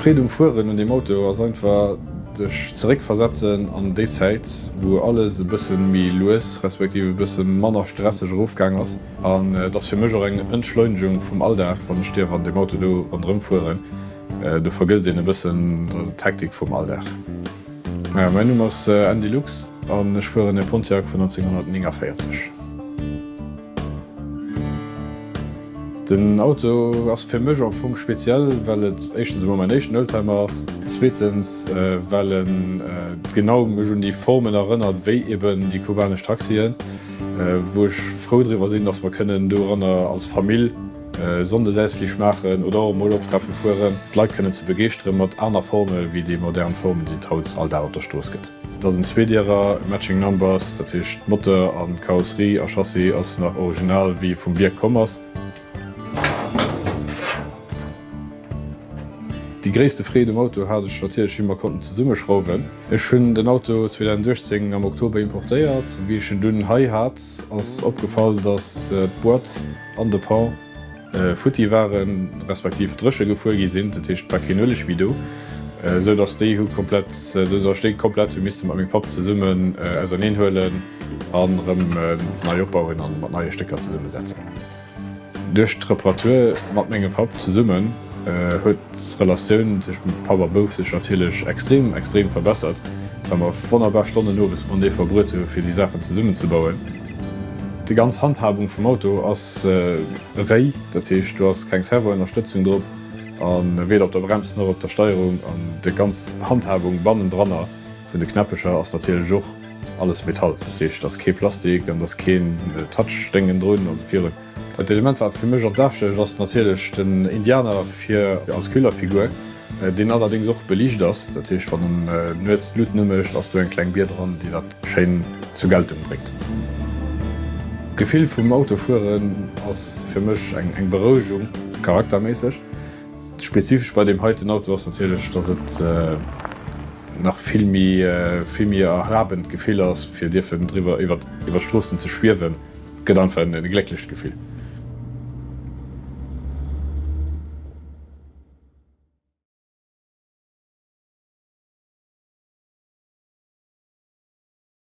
D'Freed um Fueren un deem Auto ass einfach sech zeréck versetzen an déi Zäit wou alles e bëssen méi lues respektiv e bëssen manner stresseg erofgaang ass. An et ass fir mech och eng Entschleunegung vum Alldag, wann ech dierf an deem Auto do ronderëm fueren. Do vergësst een e bëssen d'Hektik vum Alldag. Mäin Numm ass Andy Lux an ech fueren e Pontiac vun 1949. Den Auto ass fir mech am Fong speziell, well et éischtens emol mäin éischten Oldtimer ass, zweetens well e genau mech un déi Formen erënnert, wéi eben déi kubanesch Taxien. wou ech frou driwwer sinn, dass mer kënnen doranner als Famill Sonndesausflich maachen oder och emol op Treffen fueren, d'Leit kënnen ze begeeschtere mat aner Forme wéi déi modern Formen, déi et haut all Dag op der Strooss gëtt. Dass en Zweedierer matching number ass, dat heescht Moteur a Karosserie a Chassis ass nach original wéi e vum Bierg komm ass. Déi gréisste Freed um Auto hat ech natierlech wéi mer konnten zesummeschrauwen. Ech hunn den Auto 2018 am Oktober importéiert. Wéi ech en dunn hei hat ass opgefall dass d'Boîte an de Pont futti waren, respektiv dréche gefuer gi sinn. Dat heescht et war keen Ueleg méi do, esou dass déi hu komplett, esou dass ech déi komplett hu misse mat mengem Papp zesummen auserneen huelen an erëm nei opbauen a mat neie Stécker zesummesetzen. Duerch d'Reparature mat mengem Papp zesummen huet d'Relatioun tëschent Papp a Bouf sech natierlech extrem, extrem verbessert, well mer wonnerbar Stonnen owes matenee verbruet hu fir déi Saachen zesummen ze bauen. Déi ganz Handhabung vum Auto ass réi, dat heescht do ass keng Servoënnerstëtzung drop a weder op der Brems, nach op der Steierung an déi ganz Handhabung bannendranner, Vun de Knäppecher ass natierlech och alles Metall, dat heescht et ass kee Plastik an et ass keen Touch-Déngen drun, also virun. Dat Element wat fir mech an d'Aach stécht ass natierlech den Indianer fir als Killerfigur, deen allerdéngs och beliicht ass, dat heescht wann en nuets d'Luut umécht ass do eng kleng Bier dran, déi dat schéin zur Geltung bréngt. D'Gefill vum Autofueren ass fir mech eng Berouegung, charakterméisseg. Spezifesch bei deem heiten Auto ass natierlech, datt et. nach vill méi vill méi erhabend Gefill ass fir dierfen driwwer iwwert iwwert Stroossen ze schwiewen, et gëtt einfach en en glécklecht Gefill.